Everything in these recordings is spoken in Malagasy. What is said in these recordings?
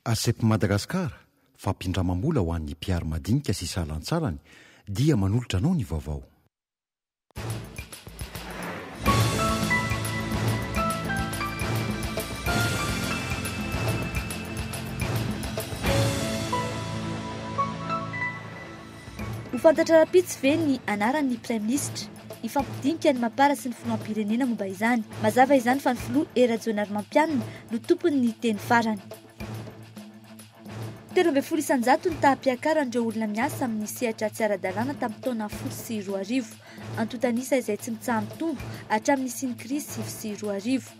ACEP Madagascar, Fampindramam-bola ho an'ny mpiaro madinika sy salantsalany dia manolotra anao ny vaovao. Ho fantatra rahampitso ve ny anaran'ny praiminisitra? Hifampidinika ny Mapar sy ny filoham-pirenena momba izany. Mazava izany fa ny filoha Hery Rajaonarimampianina no tompony ny teny farany. Telo ambin'ny folo isan-jato ny taham-piakaran'ireo olona miasa amin'ny sehatra tsy ara-dalàna tamin'ny taona folo sy roa arivo. Antontan'isa izay tsy mitsaha-mitombo hatramin'ny nisian'ny krizy sivy sy roa arivo.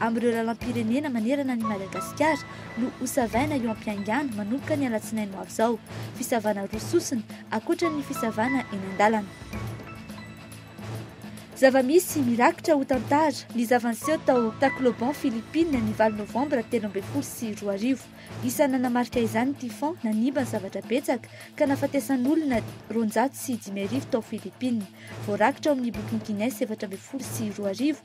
amin'ireo lalam-pirenena manerana an'i Madagasikara no hosavaina eo am-piangano manomboka ny alatsinainy ho avy izao. Fisavana roa sosona, ankoatra ny fisavana eny an-dalana. Zava-misy mirakitra ho tantara ny zava-niseho tao Tacloban, Philippines, ny valo novambra telo ambin'ny folo sy roa arivo. Isan'ny nanamarika izany ny typhon nanimba ny zavatra betsaka ka nahafatesan'olona roanjato sy dimy arivo tao Philippines. Voarakitra ao amin'ny bokin'i Guinness efatra ambin'ny folo sy roa arivo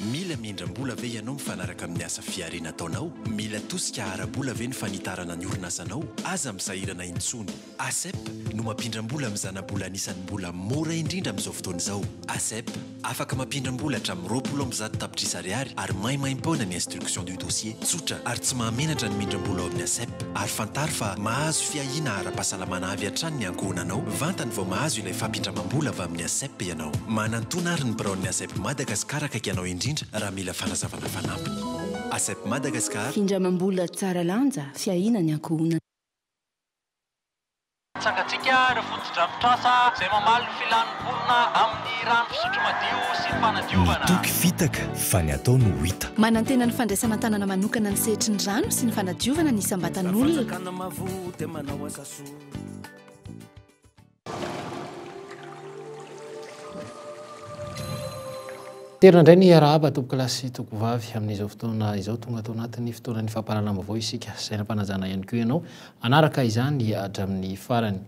Mila mendram-bola ve ianao mifanaraka amin'ny asa fihariana ataonao? Mila tosika ara-bola ve ny fanitarana ny orinasanao? Aza misahirana intsony. ACEP no mampindram-bola amin'ny zana-bola anisan'ny mbola mora indrindra amin'izao fotoana izao. ACEP, afaka mampindram-bola hatramin'ny roapolo amby zato tapitrisa ariary ary maimaim-poana ny instruction du dossier. Tsotra ary tsy mahamenatra ny mindram-bola ao amin'ny ACEP. Ary fantaro fa mahazo fiahiana ara-pahasalamana avy hatrany ny ankohonanao, vantany vao mahazo ilay fampindramam-bola avy amin'ny ACEP ianao. ianao. Manantona ary ny biraon'ny ASEP Madagascar akaiky anao indrindra raha mila fanazavana fanampiny. ASEP Madagascar. Findramam-bola tsara lanja, fiahiana ny ankohonana. Tsangantsika ireo fotodrafitrasa izay mamaly ny filan'ny mponina amin'ny rano fisotro madio sy ny fanadiovana. Ny toky fitaka fa ny atao no hita. Manantena ny fandraisana an-tanana manokana ny sehatry ny rano sy ny fanadiovana ny isam-batan'olona. Terina indray ny hiarahaba tompokolahy sy tompokovavy amin'izao fotoana izao. Tonga ato anatin'ny fotoanan'ny fampahalalam-baovao isika. Saina am-panajana ihany koa ianao hanaraka izany hatramin'ny farany.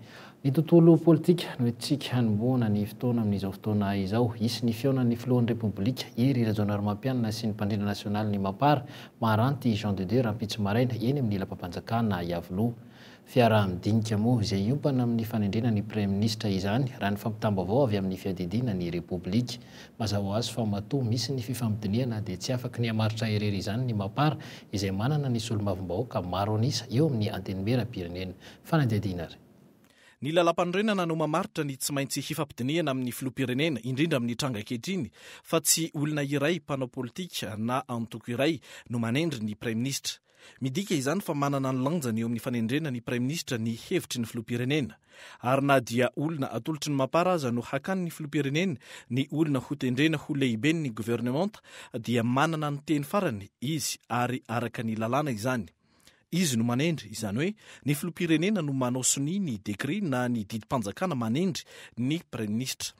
Ny tontolo politika no entintsika hanombohana ny fotoana amin'izao fotoana izao. Hisy ny fihaonan'ny filohan'ny Repoblika, Hery Rajaonarimampianina sy ny mpandrindra nasionalin'ny Mapar, Maharanty Jean de Dieu rahampitso maraina eny amin'ny lapam-panjakana Iavoloha. Fiaraha-midinika moa izay hiompana amin'ny fanendrena ny Praiminisitra izany, raha ny fampitam-baovao avy amin'ny Fiadidiana ny Repoblika. Mazava ho azy fa matoa misy ny fifampidinihana dia tsy afaky ny hamaritra irery izany ny Mapar izay manana ny solombavambahoaka maro an'isa eo amin'ny Antenimierampirenena. Fanadihadiana ary. Ny Lalàmpanorenana no mamaritra ny tsy maintsy hifampidinihana amin'ny Filoham-pirenena, indrindra amin'ny tranga ankehitriny fa tsy olona iray mpanao politika na antoko iray no manendry ny Praiminisitra. Midika izany fa manana ny lanjany eo amin'ny fanendrena ny Praiminisitra ny hevitry ny Filoham-pirenena. Ary na dia olona atolotry ny Mapar aza no hakany ny Filoham-pirenena ny olona hotendrena ho lehiben'ny governemanta dia manana ny teny farany izy ary araka ny lalàna izany. Izy no manendry, izany hoe ny Filoham-pirenena no manao sonia ny dekre na ny didim-panjakana manendry ny Praiminisitra.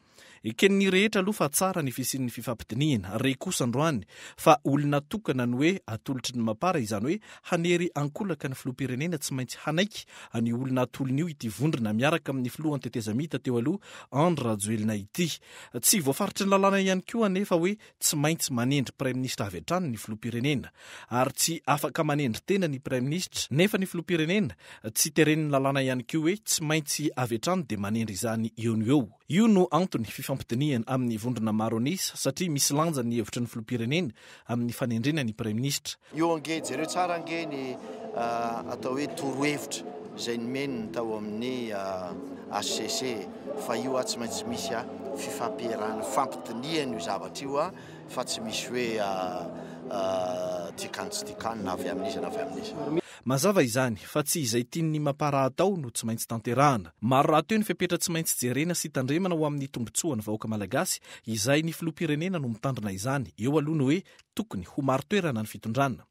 Eken'ny rehetra aloha fa tsara ny fisian'ny fifampidinihina. Re kosa androany fa olona tokana ny hoe atolotry ny mapar, izany hoe hanery ankolaka ny filoham-pirenena tsy maintsy hanaiky an'io olona atolony io ity vondrona miaraka amin'ny filoha an-tetezamita teo aloha Andry Rajoelina ity. Tsy voafaritry ny lalàna ihany koa anefa hoe tsy maintsy manendry praiminisitra avy hatrany ny filoham-pirenena ary tsy afaka manendry tena ny praiminisitra nefa ny filoham-pirenena, tsy teren'ny lalàna ihany koa hoe tsy maintsy avy hatrany dia manendry izany eo no eo. Io no antony fifampidinihana amin'ny vondrona maro an'isa satria misy lanja ny hevitry ny filoham-pirenena amin'ny fanendrena ny praiminisitra. Io ange, jereo tsara ange ny atao hoe torohevitra izay nomen'ny tao amin'ny HCC e! Fa io aho tsy maintsy misy aho fifampiherana, fifampidinihana io zavatra io aho fa tsy misy hoe dikan tsy dikan na avy amin'iza na avy amin'iza. Mazava izany fa tsy izay tian'ny mapara atao no tsy maintsy tanterahana. Maro rahateo ny fepetra tsy maintsy jerena sy tandremana ho amin'ny tombotsoan'ny vahoaka malagasy izay ny filoham-pirenena no mitandrina izany. Eo aloha ny hoe Tokony ho marin-toerana ny fitondrana.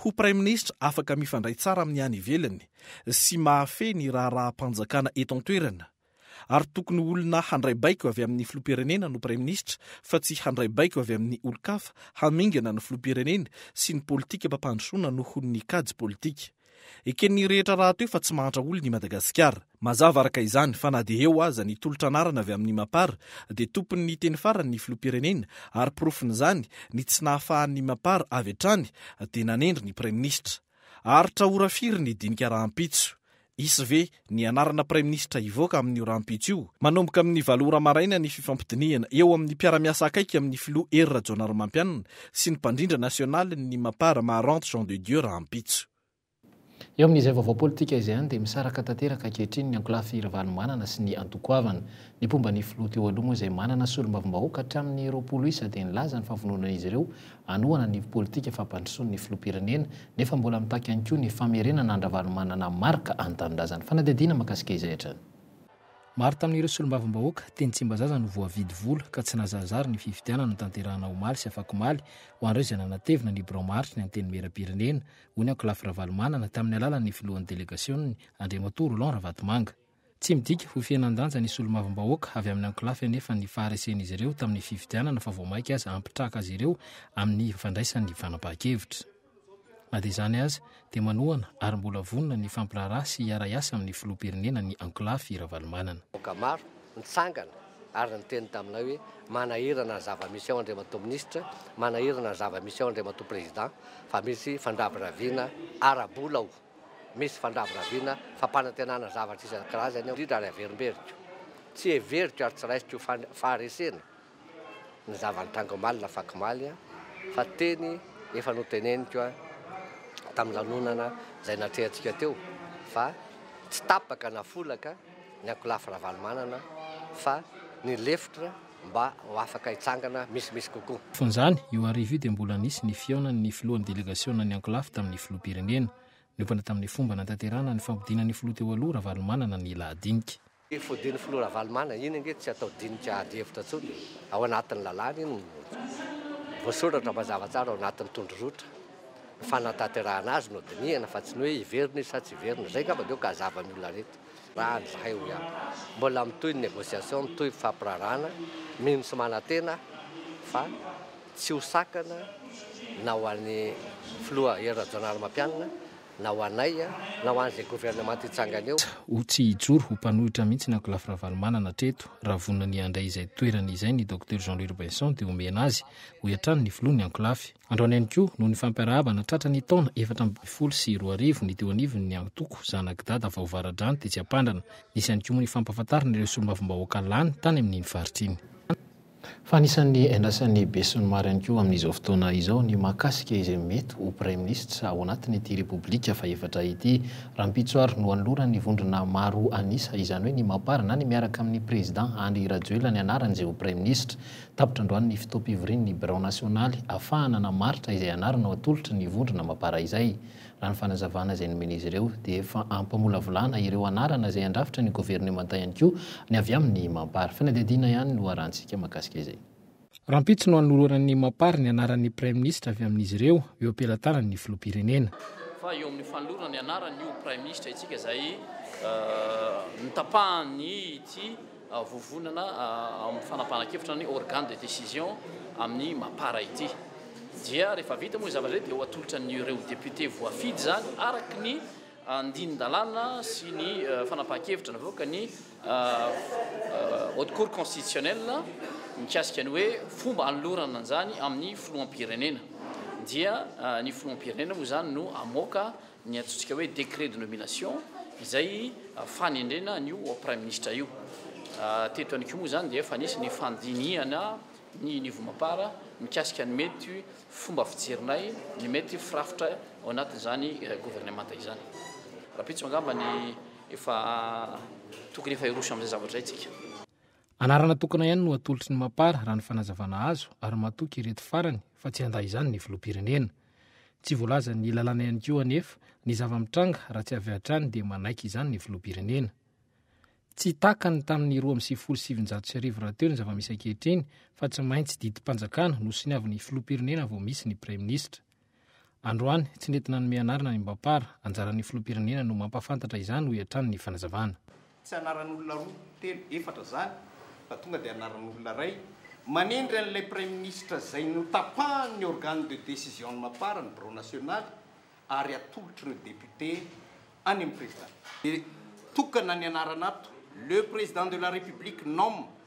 Ho praiminisitra afaka mifandray tsara amin'ny any ivelany sy mahafehy ny raharaham-panjakana eto an-toerana. Ary tokony olona handray baiko avy amin'ny filoham-pirenena no praiminisitra fa tsy handray baiko avy amin'ny olon-kafa hamingana ny filoham-pirenena sy ny politikam-pampandrosoana noho ny kajy politika. Eken'ny rehetra rahateo fa tsy mahantra olona i Madagasikara. Mazava araka izany fa na dia eo aza ny tolotra anarana avy amin'ny Mapar dia tompon'ny teny farany ny filoham-pirenena ary porofon'izany ny tsy nahafahan'ny Mapar avy hatrany dia nanendry ny praiminisitra. Aharitra ora firy ny dinika rahampitso? Hisy ve Ny anarana praiminisitra hivoaka amin'io rahampitso io. Manomboka amin'ny valo ora maraina ny fifampidinihana eo amin'ny mpiara-miasa akaiky amin'ny filoha Hery Rajaonarimampianina sy ny mpandrindra nasionalin'ny Mapar Maharante Jean de Dieu rahampitso. Eo amin'izay vaovao politika izay ihany dia misaraka tanteraka ankehitriny ny ankolafy Ravalomanana sy ny antoko goavana. Ny mpomba ny filoha teo aloha moa izay manana solombavambahoaka hatramin'ny roapolo isa dia nilaza ny fahavononan'izy ireo anohana ny politika fampandrosoan' ny filoham-pirenena, nefa mbola mitaky ihany koa ny famerenana an-dRavalomanana Marc ny tanindrazany. Fanadihadiana mahakasika izay hatrany. Maro tamin' ireo solombavambahoaka teny Tsimbazaza no voavidy vola ka tsy nahazarizary ny fifidianana notanterahina omaly sy afakomaly ho an'ireo izay nanatevina ny birao maharitra ny Antenimieram-pirenena, hoy ny ankolafy Ravalomanana tamin'ny alalan' ny filohan' ny delegasioniny, Andriamatoa Roland Ravatomanga. Tsy midika ho fihenan-danja ny solombavambahoaka avy amin'ny ankolafy anefa ny faharesen'izy ireo tamin'ny fifidianana fa vao mainka aza hampitraka azy ireo amin'ny fandraisan'ny fanapahan-kevitra. Na dia izany aza dia manohana ary mbola vonona ny hifampiraharaha sy hiara-hiasa amin'ny filoham-pirenena ny ankolafy Ravalomanana. Vahoaka maro nitsangana ary niteny taminay hoe manahirana ny zava-misy ao Andriamatoa Minisitra, manahirana ny zava-misy ao Andriamatoa Président fa misy fandrabiraviana ara-bola ao. Misy fandrabirabiana, fampanantenana zavatra isan-karazany ao, indrindra ary averimberiko. Tsy heveriko ary tsy raisiko ho faharesena ny zava-nitranga omaly na fakomaly, fa teny efa noteneniko tamin'ny lanonana izay natrehantsika teo fa tsy tapaka na folaka ny ankolafy Ravalomanana fa ny lefitra mba ho afaka hitsangana misimisy kokoa. Fonjany, io hariva io dia mbola nisy ny fihaonan'ny filohan'ny delegasionan'ny Ankolafy tamin'ny filoham-pirenena. Niompana tamin'ny fomba nanatanterahana ny fampodianan'ny filoha teo aloha Ravalomanana ny lahadinika. Io fodian'ny filoha Ravalomana iny ange tsy atao dinika ady hevitra intsony e! Ao anatin'ny lalàna iny no voasoratra mazava tsara ao anatin'ny tondrorotra ny fanantanterahana azy no dinihana fa tsy ny hoe hiverina izy sa tsy hiverina. Izay angamba no ka hazava amin'ny olona rehetra. Raha any zahay hoy aho, mbola mitohy ny négociation, mitohy ny fampirarahana, mino sy manantena aho fa tsy ho sakana na ho an'ny Filoha Hery Rajaonarimampianina na ho anay na ho an'izay gouvernement hitsangana eo. Ho tsy hijoro ho mpanohitra mihitsy ny Ankolafy Ravalomanana hatreto. Raha vonona ny handray izay toerany izay ny Docteur Jean Louis Robinson dia homena azy, hoy hatrany ny Filoha ny Ankolafy. Androany ihany koa, noho ny fampiarahaba natratra ny taona efatra ambin'ny folo sy roa arivo, ny teo anivon'ny antoko Zanak'i Dada vao vara-drano tetsy Ampandrana. Nisy ihany koa moa ny fampahafantarana ireo solombavambahoaka lany tany amin'iny faritra iny. Fa anisan'ny iandrasan'ny besinimaro ihany koa amin'izao fotoana izao ny mahakasika izay mety ho praiminisitra ao anatin'ity Repoblika fahefatra ity. Rahampitso ary no anoloran'ny vondrona maro an'isa izany hoe ny Mapar na ny miaraka amin'ny Prezidà Andry Rajoelina ny anaran'izay ho praiminisitra. Tapitra androany ny fotoam-pivorian'ny birao nasionaly afahana hanamaritra izay anarana ho atolotry ny vondrona mapara izay. Raha ny fanazavana izay nomen'izy ireo dia efa ampamolavolana ireo anarana izay handrafitra ny governemanta ihany koa ny avy amin'ny Mapar. Fanadihadiana ihany no harantsika mahakasika izay. Rahampitso no hanoloran'ny Mapar ny anaran'ny praiminisitra avy amin'izy ireo eo am-pelatanan'ny filoham-pirenena. Fa eo amin'ny fanolorana ny anaran'io praiminisitra itsika izay notapahan'ny ity. vovonana amin'ny fanapahan-kevitra ny organe de décision amin'ny mapar ity dia rehefa vita moa zavatra izay dia ho atolotra an'ireo députés voafidy izany araka ny andinin-dalàna sy ny fanapahan-kevitra navoaka ny haute cour constitutionnelle mikasika ny hoe fomba anolorana an'izany amin'ny filoham-pirenena dia ny filoham-pirenena moa izany no hamoaka ny antsointsika hoe décret de nomination izay fanendrena an'io praiminisitra io. Teto ihany koa moa izany dia efa nisy ny fandinihana ny Nivomapara mikasika ny mety fomba fijerinay, ny mety firafitra ao anatin'izany governemanta izany. Rahampitso angamba ny efa tokony efa hiroso amin'izay zavatra izay tsika. Anarana tokana ihany no atolotry ny Mapar raha ny fanazavana azo ary matoky ireto farany fa tsy handà izany ny filoham-pirenena. Tsy voalazan'ny lalàna ihany koa anefa ny zava-mitranga raha tsy avy hatrany dia manaiky izany ny filoham-pirenena. Tsy takany tamin'ny roa amby sivifolo sy sivinjato sy arivo rahateo ny zava-misy ankehitriny fa tsy maintsy didim-panjakana no soniavin'ny filoham-pirenena vao misy ny praiminisitra. Androany, tsy nety nanome anarana ny Mbapar, anjaran'ny filoham-pirenena no mampahafantatra izany, hoy hatrany ny fanazavana. Tsy anaran'olona roa, telo, efatra izany fa tonga dia anaran'olona iray. Manendry an'ilay Praiminisitra izay notapahan'ny organe de décision an'i Mapar, ny birao nasionaly, ary atolotr'ireo députés any amin'ny Président. Dia tokana ny anarana ato, Le Président de la République nomme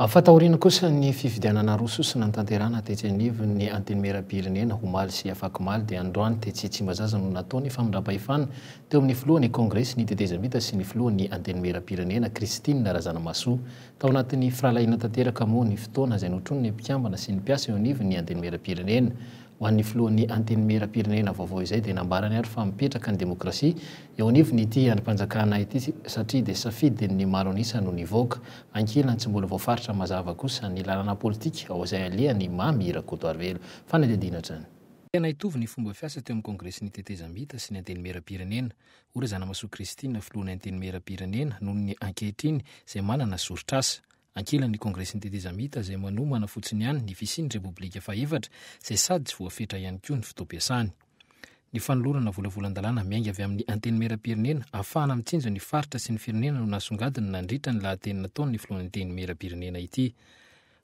Afa taoriana kosa ny fifidianana roa sosa nanatanterahana tetsy anivon'ny Antenimierampirenena omaly sy afakomaly dia androany tetsy Tsimbazaza no natao ny famindram-pahefana teo amin'ny filohan'ny Kongresy ny tetezamita sy ny filohan'ny Antenimierampirenena Christine Razanamahasoa. Tao anatin'ny firahalahiana tanteraka moa ny fotoana izay notronin'ny mpikambana sy ny mpiasa eo anivon'ny Antenimierampirenena Ho an'ny filohan'ny Antenimierampirenena vaovao izay dia nambarany ary fa mipetraka ny demokrasia eo anivon'ny ity andrim-panjakana ity satria dia safidin'ny maro an'isa no nivoaka. Ankilany tsy mbola voafaritra mazava kosa ny lalana politika ao izay alehany i Mamy Rakotoarivelo. Fanadihadiana hatrany. Tena hitovy ny fomba fiasa teo amin'ny kongresin'ny tetezamita sy ny Antenimierampirenena, hoy Razanamasoa Christine filohan'ny Antenimierampirenena noho ny ankehitriny izay manana soritr'asa. Ankilan'ny Kongresin'ny Tetezamita izay manomana fotsiny ihany ny fisian'ny Repoblika fahefatra izay sady tsy voafetra ihany koa ny fotoam-piasany. Ny fanolorana volavolan-dalàna miainga avy amin'ny Antenimierampirenena ahafahana mitsinjo ny faritra sy ny firenena no nasongadina nandritra ny lahateny nataon'ny Filohan'ny Antenimierampirenena ity.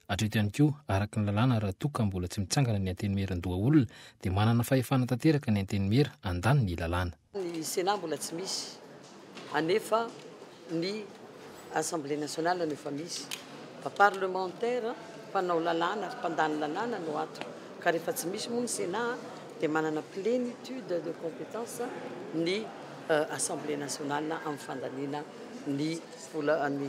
Hatreto ihany koa, araka ny lalàna raha toa ka mbola tsy mitsangana ny Antenimierandohaolona dia manana fahefana tanteraka ny Antenimiera, andaniny ny lalàna. Ny Sénat mbola tsy misy anefa ny Assemblée nationale no efa misy. Fa parlementaires, mpanao lalàna ary mpandany lalàna no ato. Ka rehefa tsy misy moa ny Sénat dia manana plénitude de compétence ny Assemblée nationale amin'ny fandaniana ny vola ny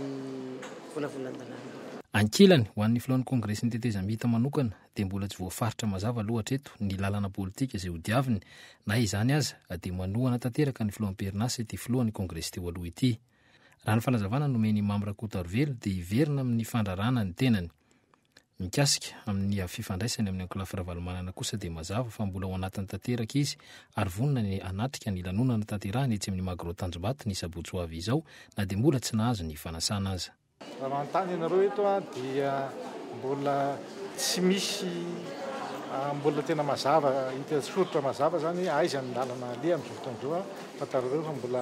volavolan-dalàna. Ankilany, ho an'ny filohan'ny Kongresin'ny tetezamita manokana, dia mbola tsy voafaritra mazava aloha hatreto ny lalana politika izay hodiaviny, na izany aza dia manohana tanteraka ny filohan'ny PRNA sy ity filohan'ny kongresy teo aloha ity. Raha ny fanazavana nomen'i Mamy Rakotarovelo dia hiverina amin'ny fandrarana ny tenany. Mikasika amin'ny avy fifandraisany amin'ny ankolafy Ravalomanana kosa dia mazava fa mbola ao anatiny tanteraka izy ary vonona ny hanatrika ny lanonana tanterahiny etsy amin'ny Magro Tanjombato ny sabotsy ho avy izao na dia mbola tsy nahazo ny fanasana aza. Raha manontany ianareo eto dia mbola tsy misy mbola tena mazava hita soritra mazava zany hoe aiza ny lalana aleha amin'izao fotoana izao a, fantarareo fa mbola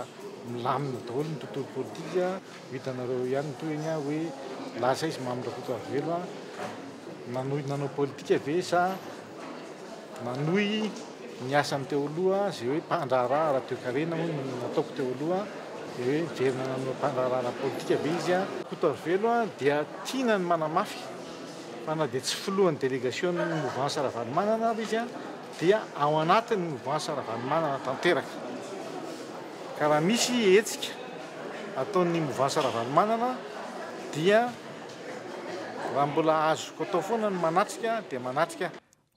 milamina daholo ny tontolo politika, ho hitanareo ihany ny tohiny a hoe lasa izy Mamy Rakotoarivelo a, nanohy nanao politika ve sa nanohy. ny asany teo aloha izay hoe mpandraharaha ara-toekarena hono no nataoko teo aloha dia hoe miverina nanao mpandraharaha ara-politika ve izy an? Koto Ravelo an dia tiana ny manamafy fa na dia tsy filohan'ny delegasion'ny movansa Ravalomanana ary izy an dia ao anatin'ny movansa Ravalomanana tanteraka ka raha misy hetsika ataon'ny movansa Ravalomanana dia raha mbola azoko atao foana ny manatrika dia manatrika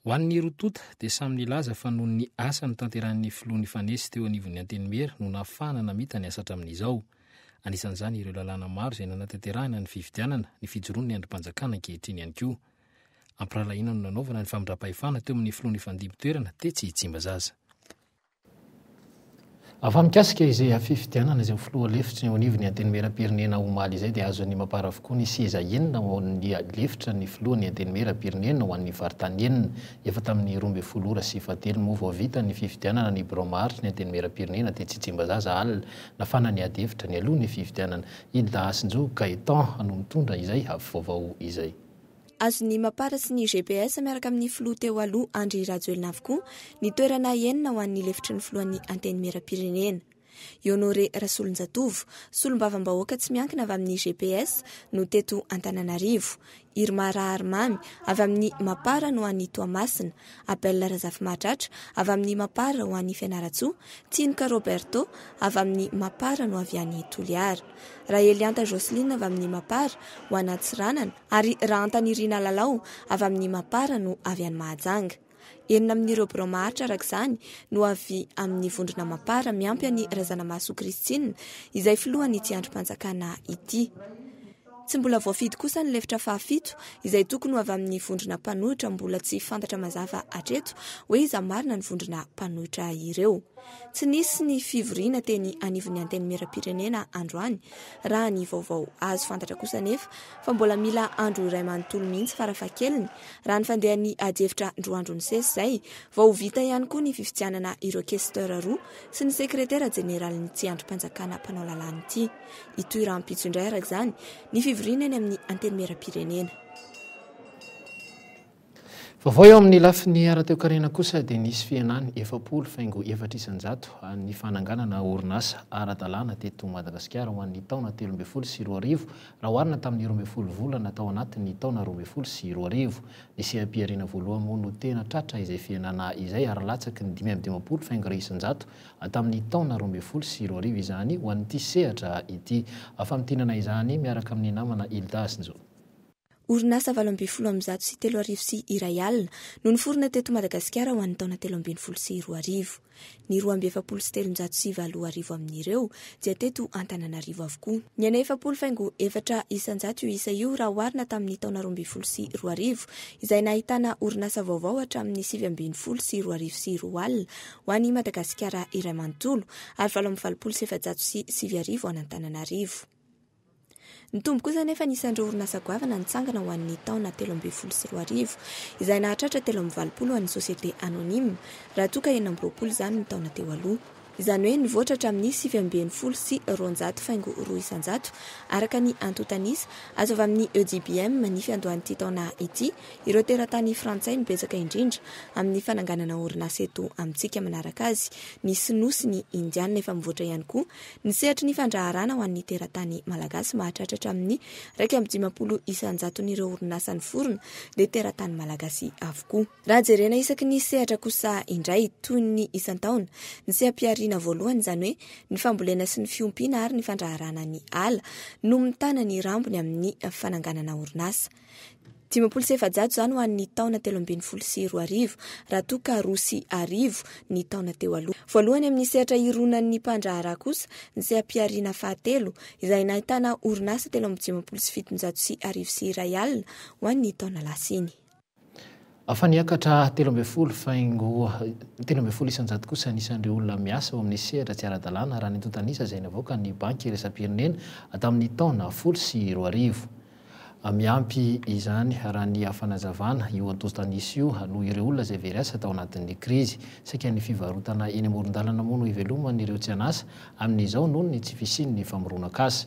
Ho an'ny roa tonta dia samy nilaza fa noho ny asa notanterahin'ny filoha nifanesy teo anivon'ny Antenimiera no nahafahana namita ny asa hatramin'izao. Anisan'izany ireo lalàna maro izay nanatanterahana ny fifidianana, ny fijoroan'ny andrim-panjakana ankehitriny ihany koa. Ampirahalahiana no nanaovana ny famindram-pahefana teo amin'ny filoha nifandimby toerana tetsy Tsimbazaza. Fa mikasika izay hafifidianana izay ho filoha lefitry ny eo anivon'ny Antenimierampirenena omaly izay dia azon'ny Mapar avokoa ny seza enina ho an'ny lefitra ny filohan'ny Antenimierampirenena ho an'ny faritany enina. Efa tamin'ny roa ambin'ny folo ora sy efa-telo moa vao vita ny fifidianana ny birao maharitry ny Antenimierampirenena tetsy Tsimbazaza alina. Nafana ny ady hevitra nialoha ny fifidianana. I Dahasinjo Gaëtan no mitondra izay havivaovao izay. Azon'ny Mapar sy ny GPS miaraka amin'ny filoha teo aloha Andry Rajoelina avokoa ny toerana enina ho an'ny lefitry ny filohan'ny Antenimierampirenena. I Honoré Rasolonjatovo, solombavambahoaka tsy miankina avy amin'ny GPS no teto Antananarivo. Irma Raharimamy avy amin'ny Mapar no any Toamasina. Abel Razafimahatratra avy amin'ny Mapar ho any Fianarantsoa. Tsinoka Roberto avy amin'ny Mapar no avy any Toliara. Rahelianta Jocelyne avy amin'ny Mapar ho an'Antsiranana. Ary raha antanirina lalao, avy amin'ny Mapar no avy any Mahajanga. Enina amin'ireo birao maharitra araka izany no avy amin'ny vondrona Mapar miampy an'i Razanamahasoa Christine izay filohan'ity andrim-panjakana ity. Tsy mbola voafidy kosa ny lefitra fahafito izay tokony ho avy amin'ny vondrona mpanohitra mbola tsy fantatra mazava hatreto hoe iza marina ny vondrona mpanohitra ireo. Tsy nisy ny fivoriana teny anivon'ny Antenimierampirenena androany Raha ny vaovao azo fantatra kosa anefa fa mbola mila andro iray manontolo mihitsy farafahakeliny, raha ny fandehan'ny adihevitra roa andro nisesy izay, vao ho vita ihany koa ny fifidianana ireo questeur roa sy ny sekretera jeneralin'ity andrim-panjakana mpanao lalàna ity. Hitohy rahampitso indray araka izany ny fivoriana eny amin'ny Antenimierampirenena. Vaovao eo amin'ny lafiny ara-toekarena kosa dia nisy fihenany efapolo faingo efatra isan-jato ny fananganana orinasa ara-dalàna teto Madagasikara ho an'ny taona telo ambin'ny folo sy roa arivo raha oharina tamin'ny roa ambin'ny folo volana tao anatin'ny taona roa ambin'ny folo sy roa arivo. Ny seha-pihariana voalohany moa no tena tratra izay fihenana izay ary latsaky ny dimy amby dimampolo faingo isan-jato tamin'ny taona roa ambin'ny folo sy roa arivo izany ho an'ity sehatra ity. Famintinana izany miaraka amin'ny namana Hilda sy Njo. Orinasa valo ambin'ny folo amby zato sy telo arivo sy iray alina no niforona teto Madagasikara ho an'ny taona telo ambin'ny folo sy roa arivo. Ny roa amby efapolo sy telonjato sy valo arivo amin'ireo dia teto Antananarivo avokoa. Niaina efapolo faingo efatra isanjato io isa io raha oharina tamin'ny taona roa ambin'ny folo sy roa arivo izay nahitana orinasa vaovao hatramin'ny sivy ambin'ny folo sy roa arivo sy roa alina ho an'i Madagasikara iray manontolo ary valo amby valopolo sy efajato sy sivy arivo an'Antananarivo. Ny Tombo kosa anefa anisan'ireo orinasa goavana nitsangana ho an'ny taona telo ambin'ny folo sy roa arivo, izay nahatratra telo amby valopolo ho an'ny société anonyme, raha toa ka enina amby roapolo izany ny taona teo aloha. Izany hoe nivoatra hatramin'ny sivy ambin'ny folo sy roanjato faingo roa isan-jato, araka ny antontanisa azo avy amin'ny EUDIBM, ny fiandohan'ity taona ity, ireo teratany frantsay no betsaka indrindra amin'ny fananganana orinasa eto amintsika. Manaraka azy, ny sinoa sy ny indiana, efa mivoatra ihany koa Ny sehatry ny fandraharana ho an'ny teratany malagasy mahatratra hatramin'ny iraika amby dimampolo isan-jaton'ireo orinasa niforona dia teratany malagasy avokoa. Raha jerena isaky ny sehatra kosa indray, toy ny isan-taona, ny seha-pihariana voalohany, izany hoe ny fambolena sy ny fiompiana ary ny fandraharana ny ala, no mitana ny rambony amin'ny fananganana orinasa. Dimampolo sy efajato izany ho an'ny taona telo ambin'ny folo sy roa arivo, raha toa ka roa sy arivo ny taona teo aloha. Voalohany amin'ny sehatra ironan'ny mpandraharaha kosa ny seha-pihariana fahatelo, izay nahitana orinasa telo amby dimampolo sy fitonjato sy arivo sy iray alina ho an'ny taona lasa iny. Afa niakatra telo ambin'ny folo faingo telo ambin'ny folo isan-jato kosa ny isan'ireo olona miasa ao amin'ny sehatra tsy ara-dalàna raha ny antontan'isa izay navoakan'ny Banky iraisam-pirenena tamin'ny taona folo sy roa arivo. Miampy izany, raha ny fanazavana, io antontan'isa io no ireo olona izay very asa tao anatin'ny krizy. Saika ny fivarotana eny amoron-dalana moa no iveloman'ireo tsy an'asa amin'izao noho ny tsy fisian'ny famoronan-kasa.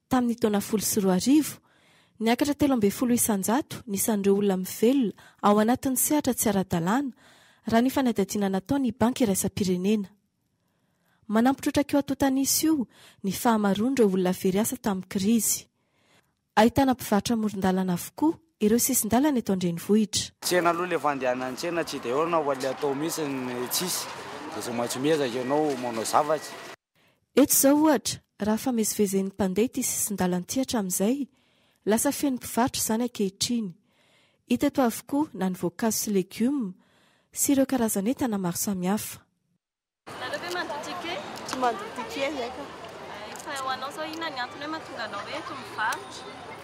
Tamin'ny taona folo sy roa arivo, niakatra telo ambin'ny folo isan-jato ny isan'ireo olona mivelona ao anatin'ny sehatra tsy ara-dalàna, raha ny fanadihadiana nataon'ny Banky Iraisam-pirenena. Manampitrotra kioatotan'isa io ny fahamaroan'ireo olona very asa tamin'ny krizy. Ahitana mpivarotra amoron-dalana avokoa ireo sisin-dalana eto an-drenivohitra. Tsena aloha le fandehanan'ny tsena tsy de eo na le atao mihitsy tsisy de tsy maintsy miezaka ianao manao zavatra. Eto izao ohatra, raha famezivezen'ny mpandeha ity sisin-dalan'ity hatramin'izay, lasa feno mpivarotra izany ankehitriny. Hita eto avokoa na ny voankazo sy legioma sy ireo karazan'entana maro samihafa. Nareo ve mandoa ticket? Tsy mandoa ticket zahay ka. Hay, fa ho anao izao inona ny antony hoe mahatonga anao hoe eto mivarotra?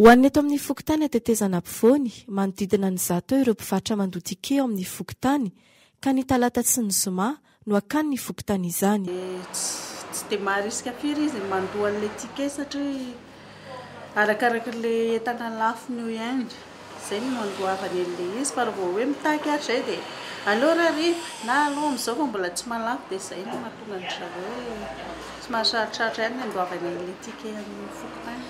Ho an'ny eto amin'ny fokontany Hatetezana Ampovoany, manodidina ny zato eo ireo mpivarotra mandoa ticket ao amin'ny fokontany, ka ny talata sy ny zoma no hakany ny fokontany izany. Tsy dia maharisika firy izy ny mandoa an'ilay ticket satria arakaraka ilay entana lafony eo ihany, izay no nandoavany an'ilay izy, fa raha vao hoe mitaky ary izay dia aleo raha hariva na aleo amin'izao fa mbola tsy mahalafo dia izay no mahatonga an-dry zareo hoe somary sarotrarotra ihany ny handoavana an'ilay ticket amin'ny fokontany.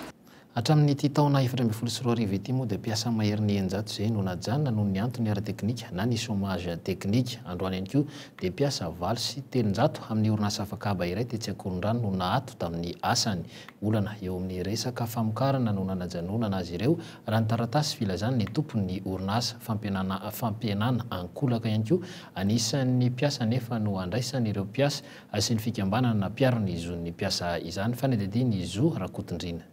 Hatramin'ity taona efatra ambin'ny folo sy roa arivo ity moa dia mpiasa maherin'ny eninjato izay no najanona noho ny antony ara-teknika na ny chômage technique. Androany ihany koa dia mpiasa valo sy telonjato amin'ny orinasa afakaba iray tetsy Ankorondrano no naato tamin'ny asany. Olana eo amin'ny resaka famokarana no nanajanonana azy ireo raha ny taratasy filazan'ny tompon'ny orinasa. Fampihenana fampihenana ankolaka ihany koa an'isan'ny mpiasa nefa no andraisan'ireo mpiasa Asian'ny fikambanana na mpiaro ny zon'ny mpiasa izany fanadiadiana ny zo Rakotondriana.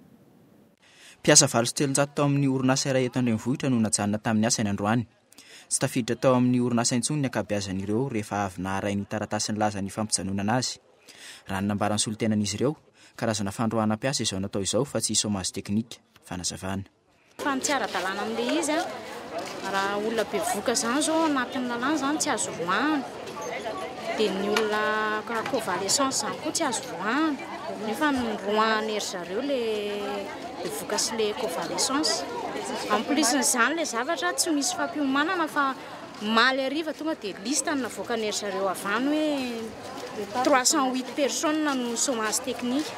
Mpiasa valo sy telonjato tao amin'ny orinasa iray eto an-drenivohitra no najanona tamin'ny asany androany. Tsy tafiditra tao amin'ny orinasa intsony ny ankabeazan'ireo rehefa avy naharay ny taratasy nilaza ny fampijanonana azy. Raha ny nambaran'ny solontenan'izy ireo, karazana fandroahana mpiasa izao natao izao fa tsy chômage technique. Fanazavana. Fa ny tsy ara-dalàna amin'ilay izy, raha olona bevoka izany izao anatin'ny lalàna izany tsy azo voahana, dia ny olona convalescence izany koa tsy azo voahana, nefa noroahana ry zareo ilay bevoka sy ilay convalescence. En plus an'izany ilay zavatra tsy misy fampiomanana fa omaly hariva tonga dia liste no navoakan'ry zareo avy any hoe trois cent huit personnes no chomage technique.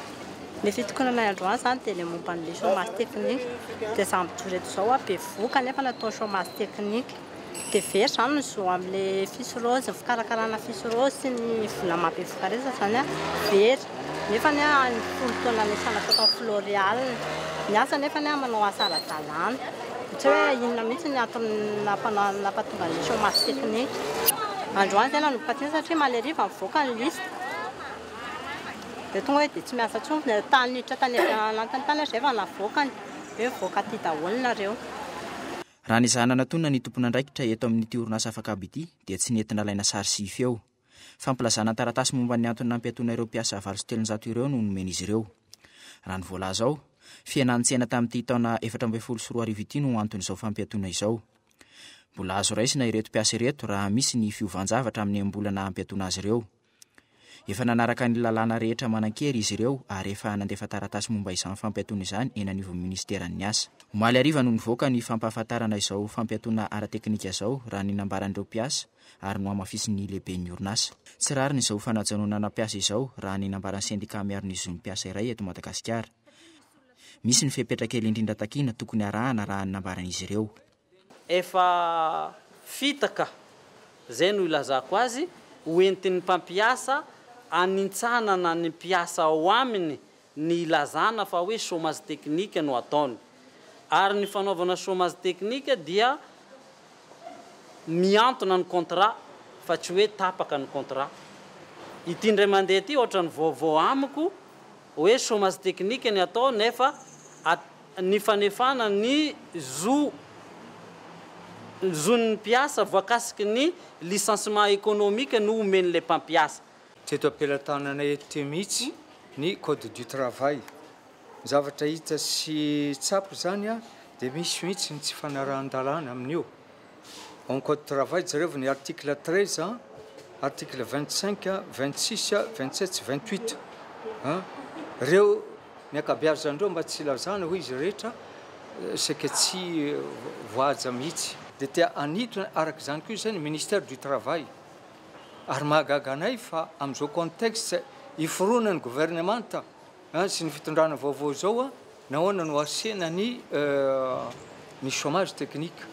Ny fitokonanay androany zany dia le momba an'le chomage technique, dia za mijoro eto zao a bevohoka nefa natao chomage technique, dia very zany ny zo amle fiche rose, ny fikarakarana fiche rose sy ny vola maha bevohoka resa zany a very, nefany a any folo taona anisan'ny ataoko am floreal, ny asa nefany a manao asa ara-dalàna, tsy hoe inona mihitsy ny antony nampanao nampatonga anle chomage technique, androany zay nanomboka teny satria maleriva mivoaka ny liste. dia tonga hoe dia tsy miasa intsony ny tany miditra tany anatiny tany izay efa navoakany hoe mivoaka aty daholo nareo. Raha ny izaho nanatonina ny tompon'andraikitra eto amin'ity orinasa afakabo ity dia tsy nety nalaina sary sy feo. Fampilazana an-taratasy momba ny antony nampiatoana ireo mpiasa valo sy telonjato ireo no nomen'izy ireo. Raha ny voalaza ao, fihenan-tsena tamin'ity taona efatra ambin'ny folo sy roa arivo ity no anton'izao fampiatoana izao. Mbola azo raisina ireto mpiasa ireto raha misy ny fiovan-javatra amin'ny am-bola naha-mpiatoana azy ireo. Efa nanaraka ny lalàna rehetra manan-kery izy ireo ary efa nandefa taratasy momba izany fampiatoana izany eny anivon'ny minisiteran'ny Asa. Omaly hariva no nivoaka ny fampahafantarana izao fampiatoana ara-teknika izao, raha ny nambaran'ireo mpiasa, ary nohamafisin'ny lehiben'ny orinasa. Tsy rariny izao fanajanonana mpiasa izao, raha ny nambaran'ny sendika miaro ny zon'ny mpiasa iray eto Madagasikara. Misy ny fepetra kely indrindra takiana tokony harahana, raha ny nambaran'izy ireo. Efa fitaka, izay no ilazako azy, ho entin'ny mpampiasa hanintsanana ny mpiasa ao aminy ny ilazana fa hoe chômage technique no ataony. Ary ny fanaovana chômage technique dia mihantona ny contrat fa tsy hoe tapaka ny contrat. Ity indray mandeha ity ohatran'ny vaovao amiko hoe chômage technique ny atao nefa ny fanefana ny zo ny zon'ny mpiasa voakasiky ny licenciement économique no omen'ilay mpampiasa. Teto am-pelatananay eto mihitsy ny code du travail. Ny zavatra hita sy tsapa izany dia misy mihitsy ny tsy fanarahan-dalàna amin'io. en code travail jereo ny article treize article vingt cinq vingt six vingt sept sy vingt huit an reo ny akabeazany reo mba tsy ilazana hoe izy rehetra seke tsy voahaja mihitsy de te hanitona araka izany koa izay ny ministère du travail ary mahagaga anay fa amizao contexte iforonan'ny gouvernemanta Sy ny fitondrana vaovao izao, nahoana no asena ny ny chomage technique?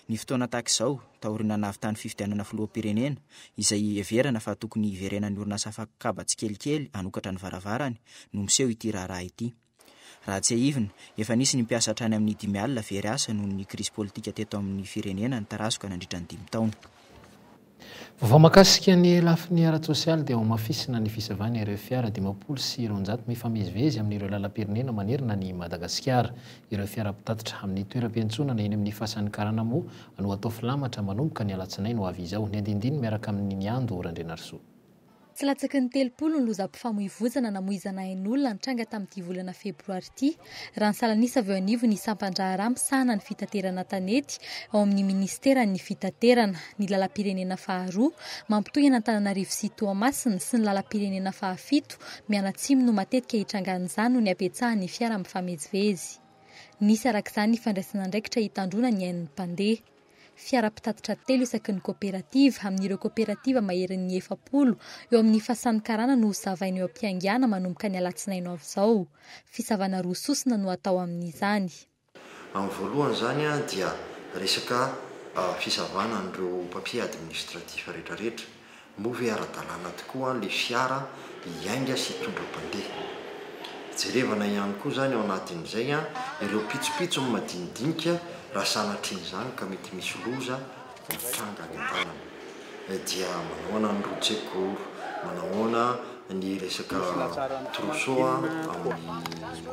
Ny fotoana tahaka izao, taorian'ny nanavitany fifidianana filoham-pirenena, izay iheverana fa tokony hiverenan'ny orinasa fakokaba tsikelikely hanokatra ny varavarany, no miseho ity raharaha ity. Raha tsiahivina, efa nisy ny mpiasa hatrany amin'ny dimy alina very asa noho ny krizy politika teto amin'ny firenena nitarazoka nandritra ny dimy taona. Vaovao mahakasika ny lafiny ara-tsosialy dia hamafisina ny fisavana ireo fiara dimampolo sy roanjato mifamezivezy amin'ireo lalam-pirenena manerana an'i Madagasikara. Ireo fiara mpitatitra amin'ny toeram-piantsonana eny amin'ny fasan'ny karana moa no hatao filamatra manomboka ny alatsinainy ho avy izao. Niandindiny miaraka amin'i Niando Randrianarisoa. Tsy latsaky ny telopolo ny lozam-pifamoivoizana namoizana ain'olona nitranga tamin'ity volana febroary ity, raha nisalanisa avy eo anivon'ny sampan-draharaha misahana ny fitaterana an-tanety ao amin'ny minisiteran'ny Fitaterana, ny lalam-pirenena faharoa mampitohy an'Antananarivo sy Toamasina sy ny lalam-pirenena fahafito mianatsimo no matetika itrangan'izany noho ny habetsahan'ny fiara mifamezivezy. Nisy arak'izany ny fandraisan'andraikitra hitandroana ny ain'ny mpandeha. Fiara mpitatitra telo isaky ny koperativa, amin'ireo koperativa maherin'ny efapolo eo amin'ny fasan'ny karana no hosavaina eo am-piaingàna manomboka ny alatsinainy ho avy izao. Fisavana roa sosona no hatao amin'izany. Amin'ny voalohany izany dia resaka fisavàna an'ireo papiers administratifs rehetrarehetra. Moa ve ara-dalàna tokoa ilay fiara hiainga sy hitondra mpandeha? Jerevana ihany koa izany ao anatin'izay ireo pitsopitsony madinidinika raha sanatrian'izany ka mety misy loza mitranga any an-dalana. Dia manahoana ny routier gour? Manahoana ny resaka trousseau amin'ny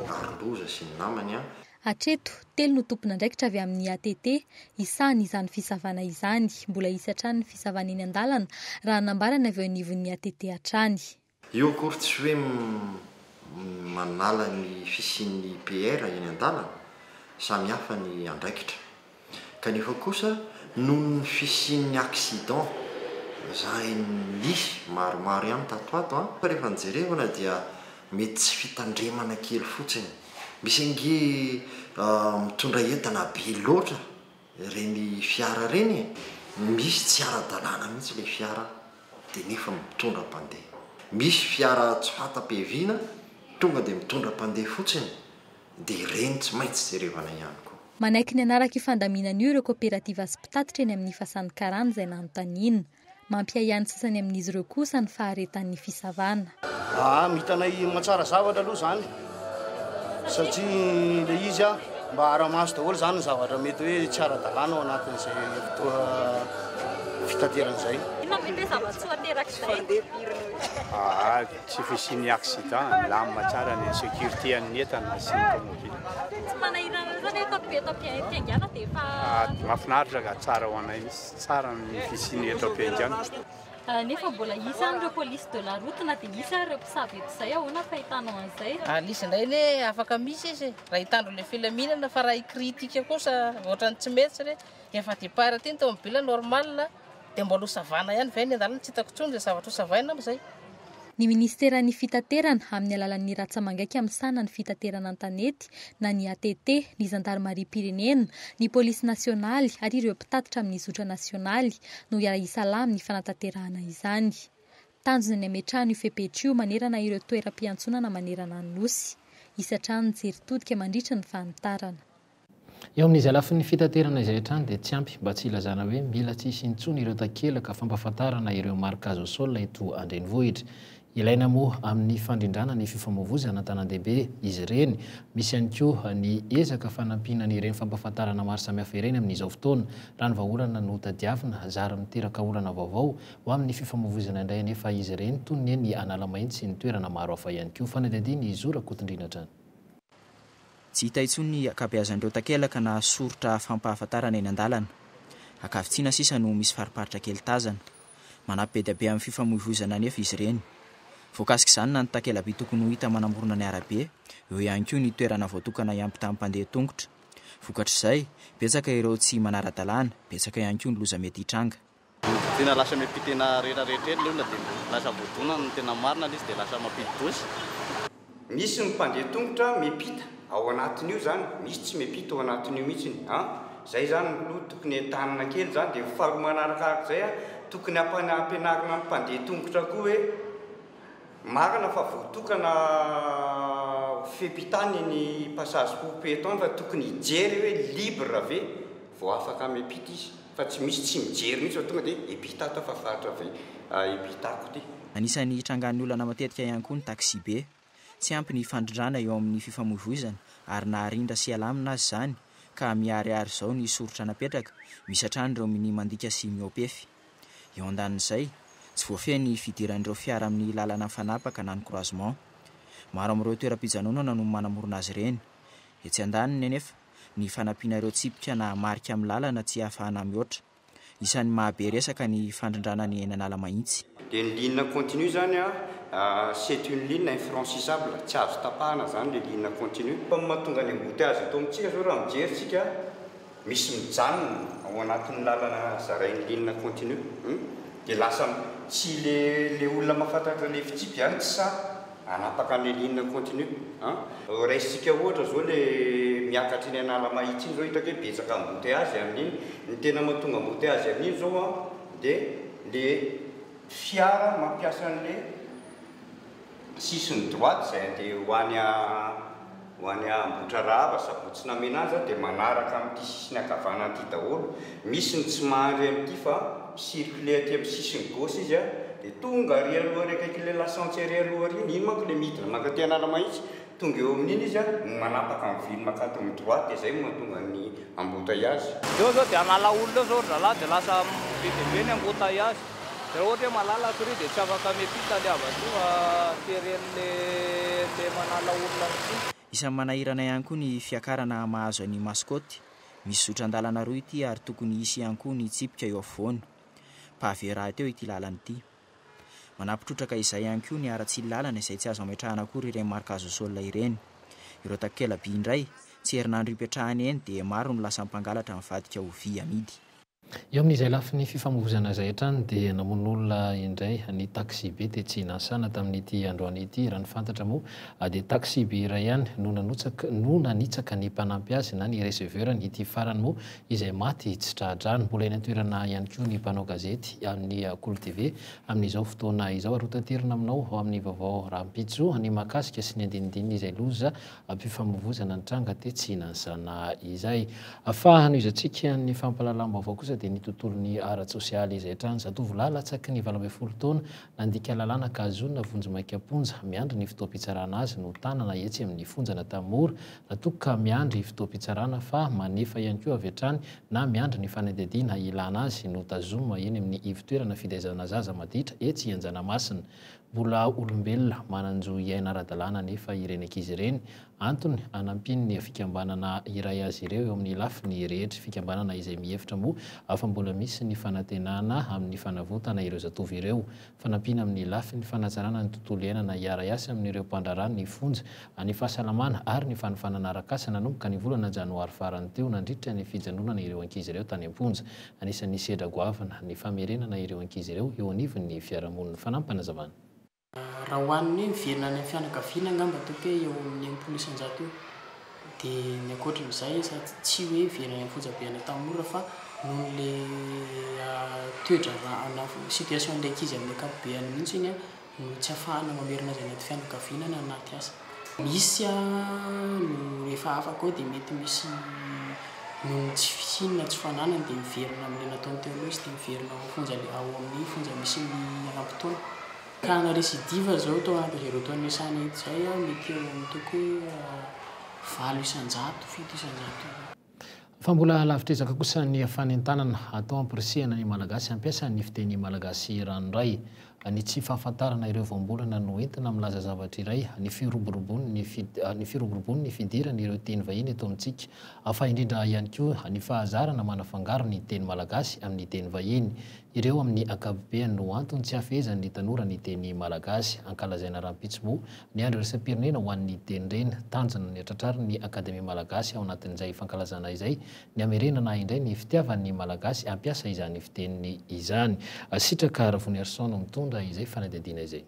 aro-loza sy ny namany? Hatreto, telo no tompon'andraikitra avy amin'ny ATT hisahana izany fisavana izany. Mbola hisy hatrany ny fisavana eny an-dalana, raha nambara ny avy eo anivon'ny ATT hatrany. Io akory tsy hoe manala ny fisian'ny PR eny an-dalana, samy hafa ny andraikitra. Kanefa kosa noho ny fisian'ny accident zay nisy maromaro ihany tato ato an, fa rehefa ny jerevana dia mety tsy fitandremana kely fotsiny. Misy ange mitondra entana be loatra ireny fiara ireny e, misy tsy ara-dalàna mihitsy ilay fiara dia nefa mitondra mpandeha. Misy fiara tsy fanta-piaviana tonga dia mitondra mpandeha fotsiny. dia ireny tsy maintsy jerevana ihany koa. Manaiky ny hanaraka io fandaminana io ireo kaoperativa sy mpitatitra eny amin'ny Fasan'ny Karana izay nanontaniana. Mampiahiahy ny sasany amin'izy ireo kosa ny faharetan'ny fisavana. Aa mitanay mahatsara zavatra aloha zany satria le izy a mba aramaso daholo zany ny zavatra mety hoe tsy ara-dalàna ao anatin'izay fotoa fitaterana izay. Inona moa ity zava-tsoa aterak'izay? Aa. Tsy fisian'ny accident, milamina tsara ny sécurité an'ny entana sy ny tomobila. Tsy manahirana loatra ve eto eto am-piaingana dia efa ah, Mahafinaritra ka tsara ho anay mihitsy, tsara ny fisian'ny eto am-piaingana. Ah, nefa mbola hisy any ireo police de la route na dia hisy ary ireo mpisabo eto izay, ahoana ny fahitanao an'izay? Ah, izy indray anie afaka misy izy raha hitandro ilay filaminana fa raha hi-critique kosa ohatran'ny tsy mety re, efa départ aty ny tomobila normal. Dia mbola ho savana ihany ve ny lalana? Tsy hitako intsony izay zavatra ho savaina amin'izay. Ny Minisiteran'ny Fitaterana, amin'ny alalan'ny ratsamangaika misahana ny fitaterana an-tanety na ny ATT, ny Zandarimariam-pirenena, ny Polisy Nasionaly ary ireo mpitatitra amin'ny zotra nasionaly no hiara-hisalahy amin'ny fanatanterahana izany. Tanjona ny hametrahana io fepetra io manerana ireo toeram-piantsonana manerana ny Nosy. Hisy hatrany ny jery todika mandritra ny fanitarana. Eo amin'izay lafiny fitaterana izay hatrany dia tsy ampy mba tsy hilazana hoe mila tsy hisy intsony ireo takelaka fampahafantarana ireo marika azo sol eto an-drenivohitra. Ilaina moa amin'ny fandrindrana ny fifamoivozana an-tanandehibe izy ireny. Misy ihany koa ny ezaka fanampiana an'ireny fampahafantarana maro samihafa ireny amin'izao fotoana. Raha ny vahaolana no tadiavina, zary miteraka olana vaovao ho amin'ny fifamoivozana indray anefa izy ireny, toy ny eny Analamainty sy ny toerana maro hafa ihany koa. Fanadihadian'i Zo Rakotondriana hatrany. Tsy hita intsony ny ankabeazan'ireo takelaka na soritra fampahafantarana eny an-dalana. Ankavitsiana sisa no misy fariparitra kely tazana. Manampy be dia be amin'ny fifamoivoizana anefa izy ireny. Voakasik'izany na ny takela-by tokony ho hita manamorona ny arabe, eo ihany koa ny toerana voatokana hiampitàn'ny mpandeha an-tongotra. Vokatr'izay, betsaka ireo tsy manara-dalàna, betsaka ihany koa ny loza mety hitranga. Ny tena lasa miampy tena rera rehetra eny leona dia lasa voadona ny tena marina ilay izy dia lasa mampidi-doza. Misy ny mpandeha tongotra miampita ao anatin'io zany, misy tsy miampita ao anatin'io mihitsiny an! Zay zany aloha tokony entanina kely zany dia faharoa manarakaraka izay an, tokony ampianarina ny mpandeha tongotra koa hoe marina fa voatokana ho fepehitan iny passage pour piéton fa tokony hijery hoe libre ve vao afaka miampita izy. Fa tsy misy tsy mijery mihitsy fa tonga dia epita tao fa faritra avy epita ko ty. Anisan'ny hitrangan'ny olana matetika ihany koa ny taxibe. Tsy ampy ny fandrindrana eo amin'ny fifamoivoizana ary naharindra sy alamina aza izany ka miharihary izao ny soritra napetraka, misy hatrany ireo minia mandika sy mihoapefy. Eo andanin'izay, tsy voafehy ny fidiran'ireo fiara amin'ny lalana mifanapaka na ny croisement. Maro amin'ireo toeram-pijanonana no manamorona azy ireny. Etsy andaniny anefa. ny fanampiana ireo tsipika na marika amin'ny lalana tsy ahafahana mihoatra. Isan'ny mahabe resaka ny fandrindrana ny eny Analamahitsy. Dia ny ligne continue izany c'est une ligne infranchissable, tsy azo tapahana izany ilay ligne continue. Fa ny mahatonga ny embouteillages eto amintsika izao raha mijery isika, misy mijanona ao anatin'ny lalana zarain'ny ligne continue, dia lasa tsy ilay olona mahafantatra ilay fitsipika izany tsy sahy. Hanapaka ny ligne en continu an! Raisintsika ohatra zao le miakatra eny Analamahitsy iny zao hitako hoe betsaka embouteillages amin'iny, ny tena mahatonga embouteillages amin'iny zao an de le fiara mampiasa an'le sisiny droite zay andeha ho any. Ho any Ambohitrarahaba sabotsy namena azy aho dia manaraka amin'ity sisiny ankavanana ity daholo, misy ny tsy mahandry an'ity fa mi-circuler aty amin'ny sisiny gauche izy an, dia tonga ary aloha ary akaikin'ilay lasantsy ary aloha ary iny, iny manko ilay midina mankaty Analamahitsy, tonga eo amin'iny izy an, no manapaka amin'ny vily mankaty amin'ny droite dia izay no mahatonga an'ny embouteillage. Eo izao dia Analaholo eo izao ry zalahy dia lasa be dia be ny embouteillage. Raha ohatra hoe malala akory io dia tsy afaka mety hita ilay havatoa teren'ilay ilay manala olona amin'ity. Isan'ny manahirana ihany koa ny fiakarana mahazo an'i Mascotte. Misy zotran-dalana roa ity ary tokony hisy ihany koa ny tsipika eo afovoany. Pavé rahateo ity lalana ity. Manampy trotraka izay ihany koa ny haratsian'ny lalana izay tsy azo ametrahana akory ireny marque azo sol ireny. Ireo takela-by indray, tsy herinandro ipetrahana eny dia maro no lasa mpangalatra mivadika ho vy amidy. Eo amin'izay lafiny fifamoivoizana izay hatrany dia namono olona indray ny taxi-be tetsy Nansana tamin'ity androany ity. Raha ny fantatra moa dia taxi-be iray ihany no nanotsaka no nanitsaka ny mpanampy azy na ny receveur-ny. Ity farany moa izay maty tsy tra-drano. Mbola eny an-toerana ihany koa ny mpanao gazety amin'ny Kolo TV amin'izao fotoana izao ary hotaterina aminao ao amin'ny vaovao rahampitso ny mahakasika sy ny andinindininy izay loza Ampifamovoizana ny tranga tetsy Hihinanzana izay. Fa hanohizantsika ny fampahalalam-baovao kosa dia ny tontolon'ny ara-tsosialy izay hatrany. Zatovolahy latsaky ny valo ambin'ny folo taona nandika lalàna ka hazonina vonjimaika am-ponja miandry ny fotoam-pitsarana azy no tanana etsy amin'ny fonjan'Antanimora raha toa ka miandry fotoam-pitsarana fa manefa ihany koa avy hatrany na miandry ny fanadihadiana ilana azy no tazomina eny amin'ny ivotoerana fitaizana zaza maditra etsy Anjanamasina. Mbola olombelona manan-jo hiaina ara-dalàna anefa ireny ankizy ireny. Antony anampian'ny fikambanana iray azy ireo eo amin'ny lafiny rehetra, fikambanana izay mihevitra moa fa mbola misy ny fanantenana amin'ny fanavotana ireo zatovo ireo. Fanampiana amin'ny lafiny fanatsarana ny tontolo iainana hiara-hiasa amin'ireo mpandraharaha ny fonja, ny fahasalamana ary ny fanofanana arak'asa nanomboka ny volana janoary farany teo nandritra ny fijanonana ireo ankizy ireo tany am-ponja. Anisan'ny sedra goavana ny famerenana ireo ankizy ireo eo anivon'ny fiarahamonin'ny fanampinazavana. Raha ho an'ny hoe miverina any amin'ny fianakaviana angamba toa hoe eo amin'ny enimpolo isanjato eo. Dia ny ankoatran'izay sady tsy hoe very any am-ponjabe any Antanimora fa noho ilay toedraharaha na situation-n'ilay ankizy amin'ny ankapobeny mihitsy iny no tsy afahana mamerina azy anaty fianakaviana na anaty asa. Misy no rehefa afaka ao dia mety misy noho ny tsy fisiany na tsy fananany dia miverina amin'ilay nataony teo aloha izy dia miverina ao fonja ao amin'ny fonja misy ny iharam-potoana. Ka na récidive aza ao tao anatin'izay roa taona niasana etsy izay mety eo amin'ny toko hoe valo isan-jato, fito isan-jato eo. Fa mbola lavitr'ezaka kosa ny fanentanana atao hampirisihana ny Malagasy hampiasa ny fiteny malagasy ranoray. Ny tsy fahafantarana ireo voambolana no entina milaza zavatra iray, ny firoborobon'ny firoborobon'ny fidiran'ireo teny vahiny eto amintsika, fa indrindra ihany koa ny fahazarana manafangaro ny teny malagasy amin'ny teny vahiny. Ireo amin'ny ankapobeany no antony tsy hahafehezan'ny tanora ny teny malagasy. Ankalazaina rahampitso moa Miandry iraisam-pirenena ho an'ny Dendreny. Tanjona ny hatratrarin'ny Akademia Malagasy ao anatin'izay fankalazana izay ny hamerenana indray ny fitiavan'ny Malagasy hampiasa izany fiteniny izany. Sitraka Ravoniarison no mitondra izay fanadihadiana izay.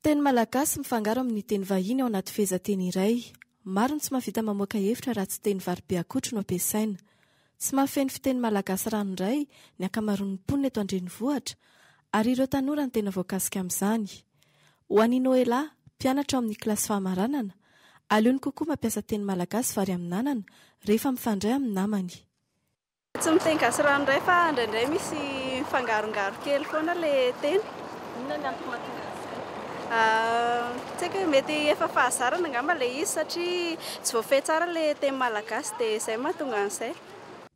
Teny malagasy mifangaro amin'ny teny vahiny ao anaty fehezanteny iray. Maro ny tsy mahavita mamoaka hevitra raha tsy teny vary be akotry no ampiasaina. Tsy mahafeno fiteny malagasy ranoray ny ankamaroan'ny mponina eto an-drenivohitra ary ireo tanora no tena voakasika amin'izany. Ho an'i Noëlla, mpianatra ao amin'ny kilasy fahamaranana, aleony kokoa mampiasa teny malagasy vary amin'anana rehefa mifandray amin'ny namany. Tsy miteny gasy ranoray fa indraindray misy mifangarongaro kely foana ilay teny. Inona ny antony mahatonga an'izay? Tsy haiko hoe mety efa fahazarana angamba ilay izy satria tsy voafehy tsara ilay teny malagasy dia izay no mahatonga an'izay.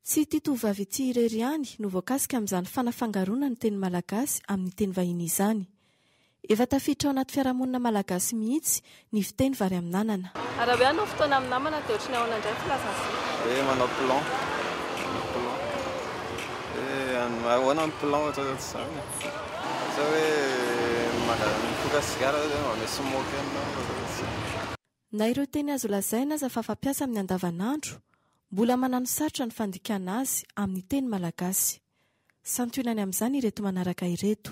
Tsy ity tovovavy ity irery ihany no voakasika amin'izany fanafangaroana ny teny malagasy amin'ny teny vahiny izany. Efa tafiditra ao anaty fiarahamonina malagasy mihitsy ny fiteny vary amin'anana. Ary raha hoe hanao fotoana amin'ny namana dia ohatran'ny ahoana indray ny filazan'i Zoky? Hoe manao plan, manao plan. Hoe ahoana ny plan ohatra hoe ohatr'izany e. Ohatra hoe mangala mitsoka sigara ohatra hoe mba me smoke anao ohatra hoe ohatr'izany. Na ireo teny azo lazaina aza fa fampiasa amin'ny andavanandro, mbola mananosarotra ny fandikana azy amin'ny teny malagasy. Santionany amin'izany ireto manaraka ireto.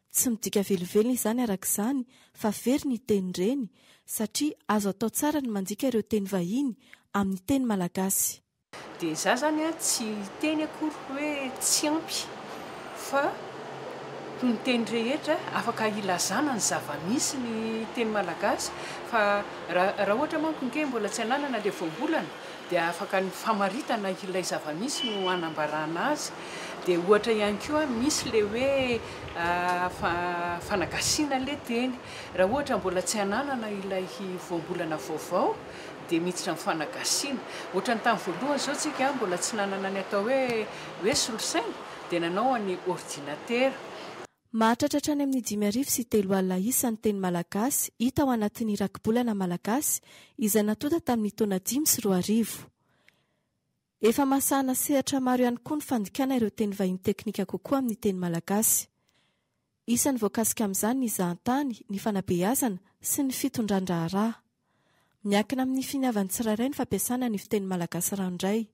Tsy midika velively izany araka izany fa very ny teny reny satria azo atao tsara ny mandika ireo teny vahiny amin'ny teny malagasy. Dia izaho izany tsy hiteny akory hoe tsy ampy fa ho ny teny rehetra afaka hilazana ny zava-misy ny teny malagasy fa raha ohatra manko ange mbola tsy ananana ilay voambolana dia afaka ny famaritana ilay zava-misy no hanambarana azy, dia ohatra ihany koa misy ilay hoe fanagasiana ilay teny, raha ohatra mbola tsy hananana ilay voambolana vaovao dia miditra amin'ny fanagasiana, ohatra ny tamin'ny voalohany izao tsika mbola tsy nanana ny atao hoe hoe solosaina dia nanao an'ny ordinatera, Mahatratra hatrany amin'ny dimy arivo sy telo alina isa ny teny malagasy hita ao anatin'ny Rakibolana malagasy izay natonta tamin'ny taona dimy sy roa arivo. Efa mahasahana sehatra maro ihany koa ny fandikana ireo teny vahiny teknika kokoa amin'ny teny malagasy. Isan'ny voakasika amin'izany ny zahantany, ny fanabeazana sy ny fitondran-draharaha. Miankina amin'ny finiavan'ny tsirairay ny fampiasana ny fiteny malagasy ranoray.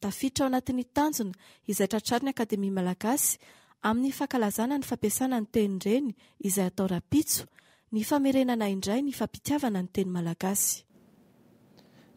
Tafiditra ao anatin'ny tanjona izay tratrarin'ny Akademia Malagasy amin'ny fankalazana ny fampiasana ny tenin-dreny izay atao rahampitso, ny famerenana indray ny fampitiavana ny teny malagasy.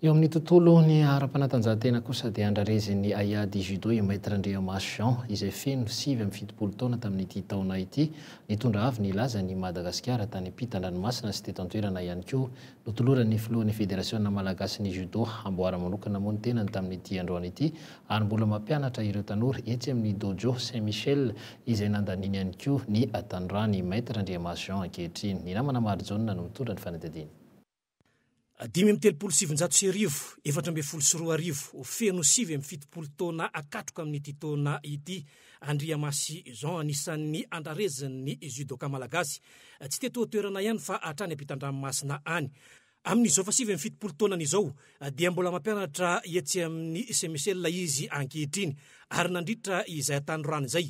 Eo amin'ny tontolo ny ara-panatanjahantena kosa dia andrarezin'ny Aia di Judo i Maître Andriamaso Jean izay feno sivy amby fitopolo taona tamin'ity taona ity. Nitondra avo nilaza an'i Madagasikara tany ampitan-dranomasina sy teto an-toerana ihany koa Notoloran'ny filohan'ny Federasiona malagasin'ny Judo amboara manokana moa ny tenany tamin'ity androany ity ary mbola mampianatra ireo tanora etsy amin'ny Dojo Saint Michel izay nandaniany ihany koa ny tanorany i Maître Andriamaso Jean ankehitriny. Ny namana Marijaona no mitondra ny fanadihadiana. Dimy amby telopolo sy sivinjato sy arivo, efatra ambin'ny folo sy roa arivo, feno sivy amby fitopolo taona hakatroka amin'ity taona ity Andriamasy Jean, anisan'ny andrarezin'ny judoka malagasy, tsy teto an-toerana ihany fa hatrany ampitan-dranomasina any. Amin'izao efa sivy amby fitopolo taonany izao dia mbola mampianatra etsy amin'ny CMCL izy ankehitriny ary nandritra izay hatanorany izay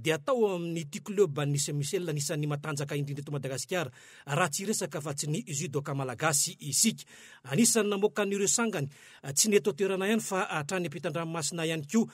dia tao amin'ity kleban'ny CMCL anisan'ny matanjaka indrindra eto Madagasikara raha tsy hiresaka fa tsy ny judoka malagasy isika. Anisan'ny namoaka an'ireo sangany tsy ny eto an-toerana ihany fa hatrany ampitan-dranomasina ihany koa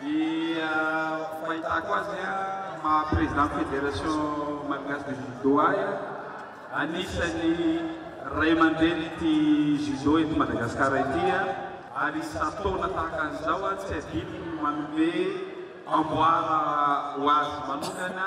Ny fahitako azy an, ny maha président fédération malgache de judo ahy an, anisan'ny ray aman-drenin'ity judo eto Madagasikara ity an, ary isan-taona tahaka an'izao an, tsy adinony ny manome amboara ho azy manokana,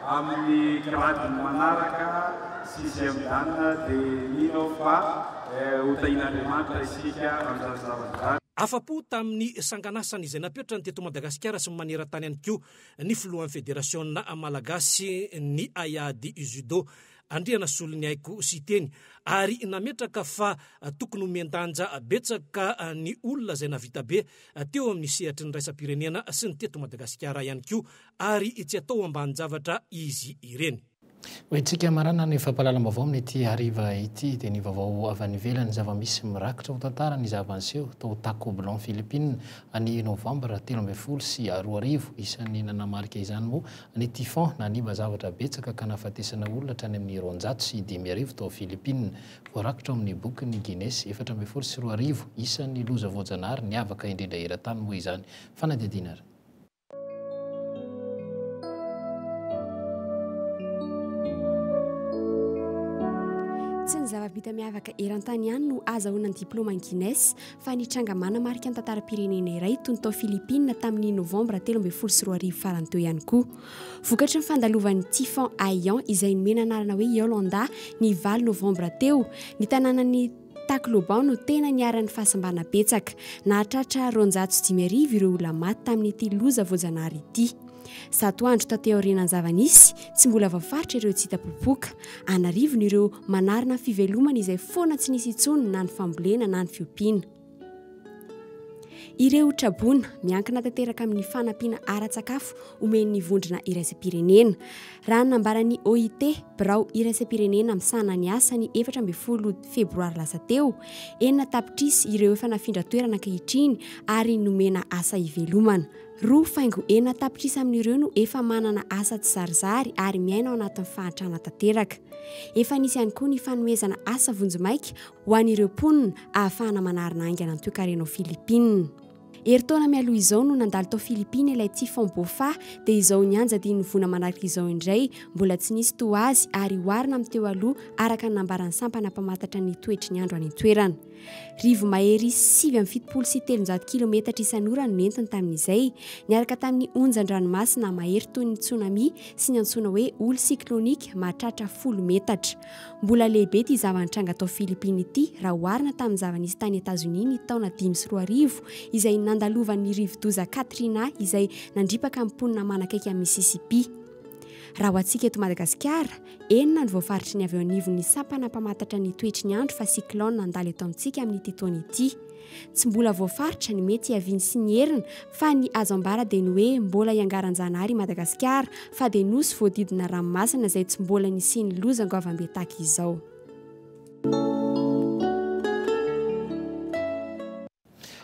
Amin'ny gradiny manaraka, sixième dan, dia mino aho fa ho tahian'Andriamanitra isika amin'izany zavatra izany. Afa-po tamin'ny sanganasany izay napetrany teto Madagasikara sy maneran-tany ihany koa ny filohan'ny federasiona malagasin'ny haiady judo, Andrianasoloniaiko Siteny, ary nametraka fa tokony homen-danja betsaka ny olona izay nahavita be teo amin'ny sehatry ny iraisam-pirenena sy ny teto Madagasikara ihany koa ary tsy atao ambanin-javatra izy ireny. Ho hetsika marana ny fampahalalam-baovao amin'ity hariva ity dia ny vaovao avy any ivelany, zava-misy mirakitra ho tantara ny zava-niseho tao Tacublan, Philippines, ny Novambra telo ambin'ny folo sy roa arivo. Isan'ny nanamarika izany moa ny typhon nanimba zavatra betsaka ka nahafatesana olona hatrany amin'ny roanjato sy dimy arivo tao Philippines. Voarakitra ao amin'ny bokin'ny Guinness efatra ambin'ny folo sy roa arivo, isan'ny loza voajanahary niavaka indrindra eran-tany moa izany. Fanadihadiana ary. Tsy ny zava-bita miavaka eran-tany ihany no azahoana ny diplaoma an'i Guinness fa ny tranga manamarika ny tantaram-pirenena iray tony tao Philippines tamin'ny novambra telo ambin'ny folo sy roa arivo farany teo ihany koa. Vokatry ny fandalovan'ny Typhon Haiyan izay nomena anarana hoe Yolanda ny valo novambra teo, ny tanànan'i Tacloban no tena niharan'ny fahasimbana betsaka. Nahatratra roanjato sy dimy arivo ireo olona maty tamin'ity loza voajanahary ity. Zato andro taty aorianan'ny zava-nisy, tsy mbola voafaritra ireo tsy hita popoka. An'arivony ireo manarina fivelomana izay foana tsy nisy intsony na ny fambolena na ny fiompiana. Ireo traboina miankina tanteraka amin'ny fanampiana ara-tsakafo omen'ny vondrona iraisam-pirenena. Raha ny nambaran'ny OIT, birao iraisam-pirenena misahana ny asa ny efatra ambin'ny folo febroary lasa teo, enina tapitrisa ireo efa nafindran-toerana ankehitriny ary nomena asa ivelomana. Roa faingo enina tapitrisa amin'ireo no efa manana asa tsizarizary ary miaina ao anatin'ny fahantrana tanteraka. Efa nisy ihany koa ny fanomezana asa vonjimaika ho an'ireo mponina ahafahana manarina haingana ny toekarena ao Filipina. Herintaona mialoha izao no nandalo tao Filipina ilay Typhon Bopha dia izao nianja dimy vona manaraka izao indray, mbola tsy nisy toa azy ary oharina amin'ny teo aloha araka ny nambaran'ny sampana mpamantatra ny toetry ny andro any an-toerana. Rivo-mahery sivy amby fitopolo sy telonjato kilometatra isan'ora no nentiny tamin'izay, niaraka tamin'ny onjan-dranomasina mahery toy ny tsunami sy ny antsoina hoe holy cyclonique mahatratra folo metatra. Mbola lehibe ity zava-nitranga tao Filipina ity raha oharina tamin'ny zava-nisy tany Etazonia ny taona dimy sy roa arivo izay nandalovan'ny rivodoza Katrina izay nandripaka amin'ny mponina manakaiky an'i Mississippi. Raha ho antsika eto Madagasikara, enina ny voafaritry ny avy eo anivon'ny sampana mpamatatra ny toetry ny andro fa cyclone nandalo eto amintsika amin'ity taona ity. Tsy mbola voafaritra ny mety hiaviany sy ny heriny fa ny azo ambara dia ny hoe mbola iangaran-janahary i Madagasikara fa dia nosy voadidina ranomasina izay tsy mbola nisian'ny loza goavambe tahaka izao.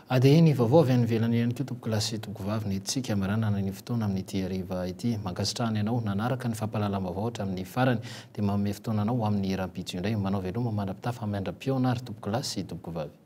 Ady ny vaovao avy any ivelany ihany koa tompoko lahy sy tompoko vavy ny tsiky hamaranana ny fotoana amin'ity hariva ity. Mankasitrahana ianao nanaraka ny fampahalalam-baovao hatramin'ny farany dia manome fotoana anao ho amin'ny hiram-pitso indray. Manao veloma mandra-pitafa miandra-pihaona ary tompoko lahy sy tompoko vavy.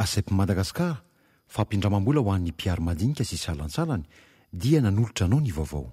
ACEP Madagascar, fampindramam-bola ho an'ny mpiaro madinika sy salantsalany, dia nanolotra anao ny vaovao.